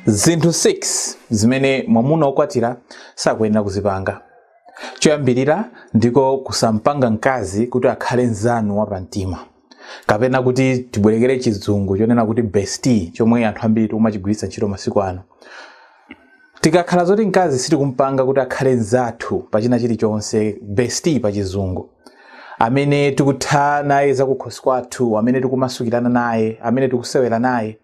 zinthu 6 zimene mwamuna wokwatira sakuyenera kuzipanga choyambirira ndiko kusampanga mkazi kuti akhale mzanu wapamtima kapena kuti tibwerekere chizungu chonena kuti bestie chomwe anthu ambiri tikumachigwiritsa ntchito masiku ano tikakhala zoti mkazi sitikumpanga kuti akhale mzathu pa china chilichonse bestie pa chizungu amene tikutha naye zakukhosi kwathu amene tikumasukirana naye amene tikusewera naye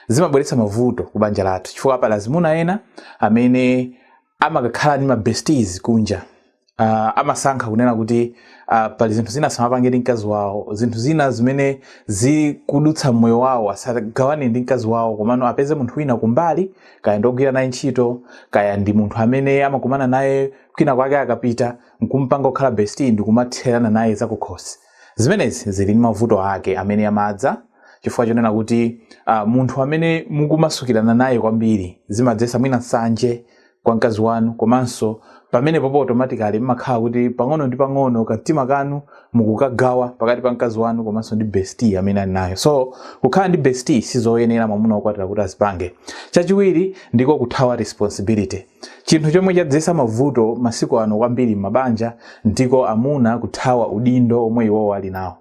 zimabweretsa mavuto ku banja lathu chifukwa pali azimuna ena amene amakakhala ndi mabesties kunja uh, amasankha kunena kuti uh, pali zinthu zina asamapange ndi mkazi wawo zinthu zina zimene zikudutsa mmoyo wawo asagawane ndi mkazi wawo komano apeze munthu wina kumbali kaya ndogwira naye ntchito kaya ndi munthu amene amakumana naye kwina kwake akapita nkumpanga kukhala bestie ndikumatherana naye zakukhosi Zimenezi zili ndi mavuto ake amene amadza chifukwa chonena kuti uh, munthu amene mukumasukirana naye kwambiri zimadzesa mwina nsanje kwa mkazi wanu komanso pamenepopo automatically mmakhala kuti pang'ono ndi pang'ono kamtima kanu mukukagawa pakati pa mkazi wanu komanso ndi bestie amene ali nayo so kukhala ndi bestie sizoyenera mwamuna wokwatira kuti azipange chachiwiri ndiko kuthawa responsibility Chinthu chomwe chadzetsa mavuto masiku ano kwambiri m'mabanja ndiko amuna kuthawa udindo omwe iwowo ali nawo.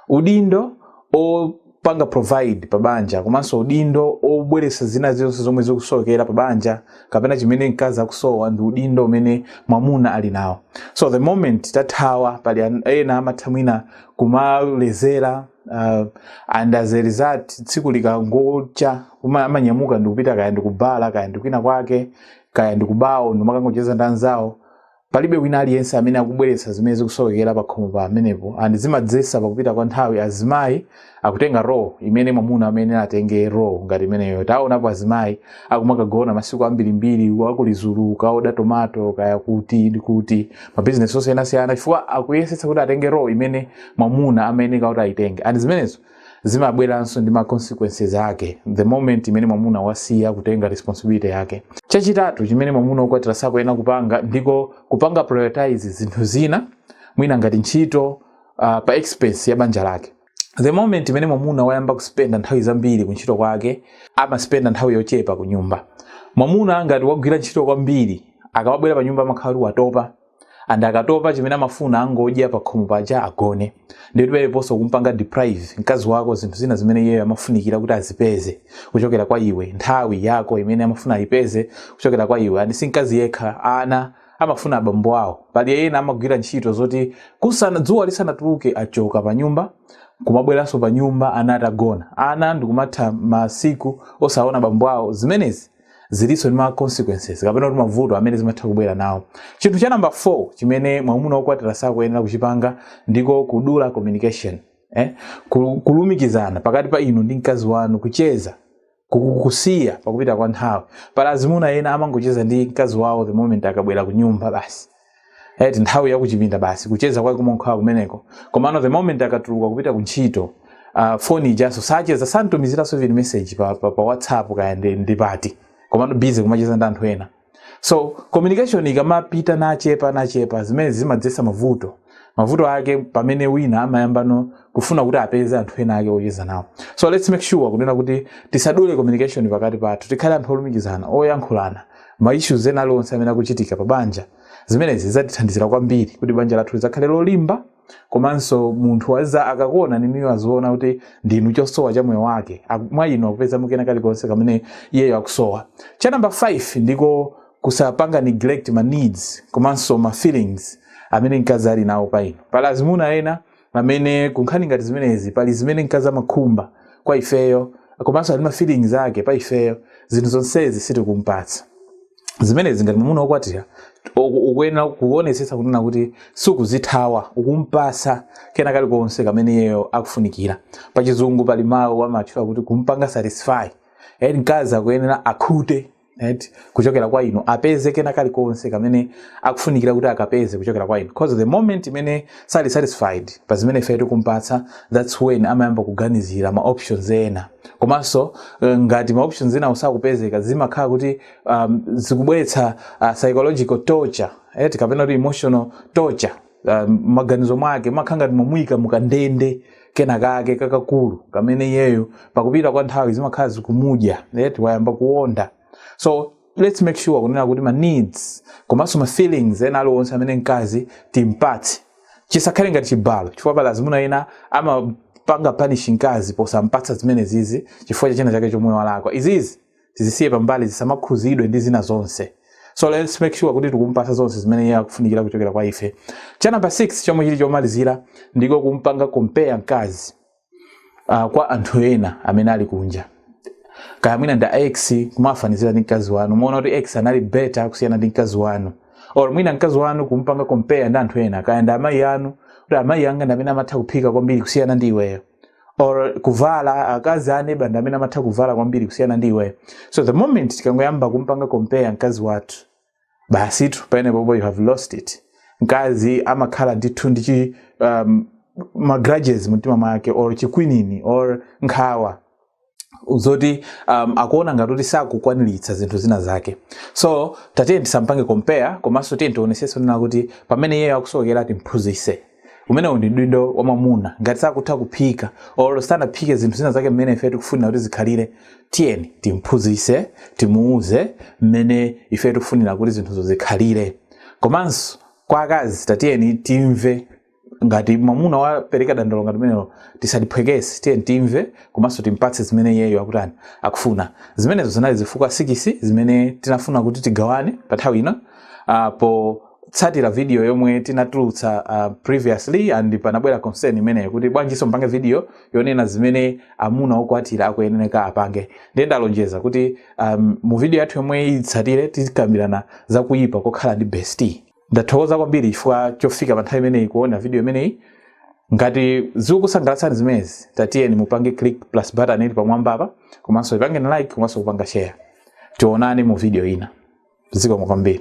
Udindo opanga provide pa banja komanso udindo obweretsa zina zonse zomwe zikusokera pa banja kapena chimene mkazi akusowa ndi udindo umene mwamuna ali nawo. So the moment tathawa pali an- ena amatha mwina kumalezera uh, and as a result tsiku likangocha uma- amanyamuka ndikupita kaya ndikubhala kaya ndikwina kwake kaya ndikubawo ndikumakangocheza ndi anzawo palibe wina aliyense amene akubweretsa zimene zikusokera pakhomo pamenepo and zimadzesa pakupita kwa nthawi azimayi akutenga role imene mwamuna amayenera atenge role ngati imeneyo taonapo azimayi akumakagona masiku ambirimbiri kwa Lizulu kukaoda tomato kaya kuti ndi kuti mabizinesi osiyanasiyana chifukwa akuyesetsa kuti atenge role imene mwamuna amayeneka kuti ayitenge and zimenezo zimabweranso ndi ma consequences ake the moment imene mwamuna wasiya kutenga responsibility yake chachitatu chimene mwamuna okwatira sakuyenera kupanga ndiko kupanga prioritize zinthu zina mwina ngati ntchito uh, pa expense ya banja lake the moment imene mwamuna wayamba kuspenda nthawi zambiri ku ntchito kwake amaspenda nthawi yochepa ku nyumba mwamuna ngati wagwira ntchito kwambiri akamabwera pa nyumba amakhala kuti watopa and akatopa chimene amafuna angodya pakhomo paja agone ndiyetu paliponso kumpanga deprive mkazi wako zinthu zina zimene iyeyo amafunikira kuti azipeze kuchokera kwa iwe nthawi yako imene amafuna ayipeze kuchokera kwa iwe and si mkazi yekha ana amafuna abambo awo pali ena amagwira ntchito zoti dzuwa lisanatuluke achoka pa nyumba kumabweranso pa nyumba ana atagona ana ndikumatha masiku osaona bambo awo zimenezi zilinso ndi ma consequences kapena kuti mavuto amene zimatha kubwera nawo chinthu cha namba 4 chimene mwamuna wokwatira sakuyenera kuchipanga ndiko kudula communication eh? Ku- kulumikizana pakati pa inu ndi mkazi wanu kucheza kukusiya pakupita kwa nthawi pali azimuna ena amangocheza ndi mkazi wawo the moment akabwera ku nyumba basi eti nthawi yakuchipinda basi kucheza kwake kumakhala kumeneko komano the moment akatuluka kupita ku ntchito uh, foni ijaso sacheza samutumiziranso even message pa, pa, pa whatsapp kaya ndi, ndi pati komano busy kumacheza ndi anthu ena so communication ikamapita nachepa nachepa zimenezi zimadzetsa mavuto mavuto ake pamene wina amayambano kufuna kuti apeze anthu ena ake ocheza nawo so let's make sure kunena kuti tisadule communication pakati pathu tikhale anthu olumikizana oyankhulana ma issues ena aliwonse amene akuchitika pa banja zimenezi zitithandizira kwambiri kuti banja lathu lidzakhale lolimba komanso munthu uja akakuonani inuyo aziona kuti ndinu chosowa cha moyo wake Aku- mwa inu akupezamo kena kalikonse kamene iyeyo akusowa cha namba 5 ndiko kusapanga neglect ma needs komanso ma feelings amene mkazi ali nawo pa inu pali azimuna ena amene kunkhani ngati zimenezi pali zimene mkazi amakhumba kwa ifeyo komanso ali ma feelings ake pa ifeyo zinthu zonsezi sitikumpatsa zimenezi ngati mwamuna wokwatira uku- ukuyenera kuonetsetsa kunena kuti sukuzithawa ukumpasa kena kalikonse kamene iyeyo akufunikira pachizungu pali mawu amatchula kuti kumpanga satisfy and mkazi akuyenera akhute right? kuchokera kwa inu apeze kena kalikonse kamene akufunikira kuti akapeze kuchokera kwa inu because the moment imene sali satisfied pa zimene ife tikumpatsa that's when amayamba kuganizira ma options ena komanso eh, ngati ma options enawo sakupezeka zimakhala kuti um, zikubweretsa uh, psychological torture right? kapena kuti emotional torture ah, maganizo mwake mumakhala ngati mwamuyika mukandende kena kake kakakulu kamene iyeyo pakupita kwa nthawi zimakhala zikumudya yet wayamba kuonda so let's make sure kunena kuti ma needs komanso ma feelings ena aliwonse amene mkazi timpatse chisakhale ngati chibalo chifukwa pali azimuna ena amapanga punish mkazi posampatsa zimenezizi chifukwa cha china chake chomwe walakwa izizi tizisiye pambali zisamakhuzidwe ndi zina zonse so let's make sure kuti tikumpatsa zonse zimene iye akufunikira kuchokera kwa ife cha number 6 chomwe chili chomalizira ndiko kumpanga compare mkazi uh, kwa anthu ena amene ali kunja kaya mwina ndi ex kumafanizira ndi mkazi wanu kumuona kuti ex anali better kusiyana ndi mkazi wanu or mwina mkazi wanu kumpanga compare ndi anthu ena kaya ndi amayi anu kuti amayi anga ndi amene amatha kuphika kwambiri kusiyana ndi iweyo or kuvala akazi a neba ndi amene amatha kuvala kwambiri kusiyana ndi iweyo so the moment tikangoyamba kumpanga compare mkazi wathu basitu pamenepopo you have lost it mkazi amakhala ndithu ndi chi um, magrudges mumtima mwake or chikwinini or nkhawa zoti um, akuona ngati kuti sakukwaniritsa zinthu zina zake so tatiyeni tisampange compare komanso tiyeni tionesese kunena kuti pamene iye akusokera timphunzise umenewu ndi udindo wa mwamuna ngati sakutha kuphika or sanaphike zinthu zina zake mmene ife tikufunira kuti zikhalire tiyeni timphunzise timuuze mmene ife tikufunira kuti zinthuzo zikhalire komanso kwa akazi tatiyeni timve ngati mwamuna wapereka dandaulo ngati limenelo tisaliphwekese tiyeni timve komanso timpatse zimene iyeyo akutani akufuna zimenezo zinali zifukwa sikisi zimene tinafuna kuti tigawane pa nthawi ino uh, potsatira video yomwe tinatulutsa uh, previously and panabwera concern imeneyo kuti bwanjinso mpange video yonena zimene amuna okwatira akuyenera apange ndiye ndalonjeza kuti um, mu video yathu yomwe itsatire tikambirana za kuyipa kokhala ndi bestie ndathokoza kwambiri chifukwa chofika pa nthawi imeneyi kuona video imeneyi ngati zikukusangalatsani zimenezi tatiyeni mupange click plus button ili pamwamba apa komanso ipangeni like komanso kupanga share tionane mu video ina zikomo kwambiri